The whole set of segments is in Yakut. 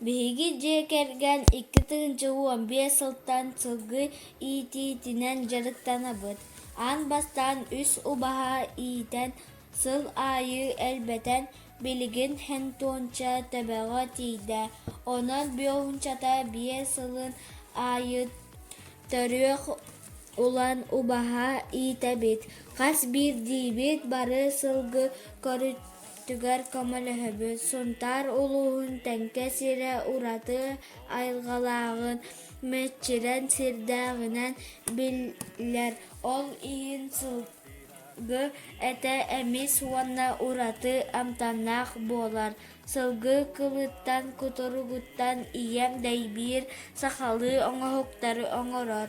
Биһиги дьиэ кэргэн икки тыһыынча уон биэс сылтан сылгы иитиитинэн дьарыктанабыт. Аан бастаан үс убаһа иитэн, сыл аайы элбэтэн, билигин хентуонча төбөҕө тиийдэ. Онон биоуунчата биэс сылын аайы төрүөх ылан убаһа иитэбит. Хас биирдиибит бары сылгы Өттүгэр көмөлөһөбүт, Сунтаар улууһун Тэҥкэ сирэ ураты айылҕалааҕын, мэччирэн сирдээҕинэн биллэр. Ол иһин сылгы этэ эмис уонна ураты амтаннаах буолар. Сылгы кылыттан, кутуругуттан ийэм дэйбиир сахалыы оҥоһуктары оҥорор.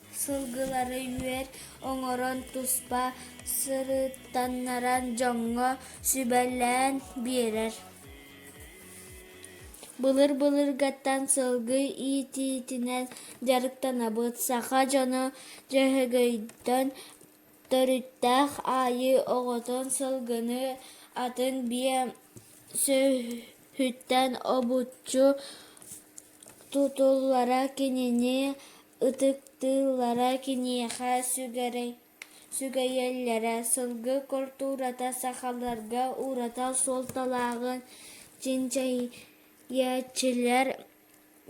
Сылгылары үөр оҥорон туспа сырыттаннаран дьоҥҥо сүбэлээн биэрэр. Былыр-былыргаттан сылгы иитиитинэн дьарыктанабыт. Саха дьоно Дьөһөгөйтөн төрүттээх аайы оҕотун сылгыны атын биэ сүөһүттэн обуччу Тутуллара кинини ытыктыыллара киниэхэ сүгэйэллэрэ, сылгы культурата сахаларга ураты суолталааҕын чинчийээччилэр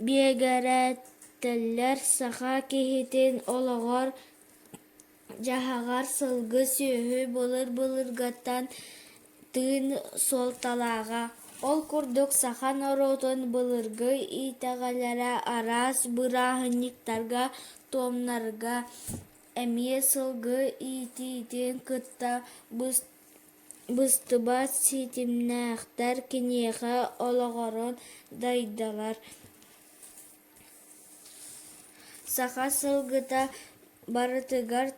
биэгэрээтэллэр саха киһитин олоҕор Дьаһаҕар сылгы сүөһү былыр-былыргаттан тыын суолталааҕа. Ол курдук саха норуотун былыргы итэҕэлэрэ араас бырааһынньыктарга, туомнарга эмиэ сылгы иитиитин кытта быстыбат ситимнээхтэр, киниэхэ олоҕуран дайдалар Саха сылгыта барытыгар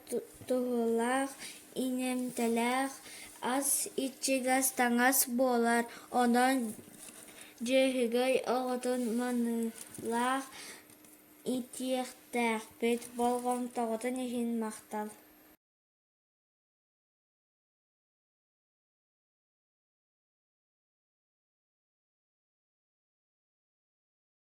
туһалаах, иҥэмтэлээх, ас иччигэс, таҥас буолар. Онон дьүөһүгэй оҕотун маныылаах иитиэхтээхпит, болҕомтоҕутун иһин махтал.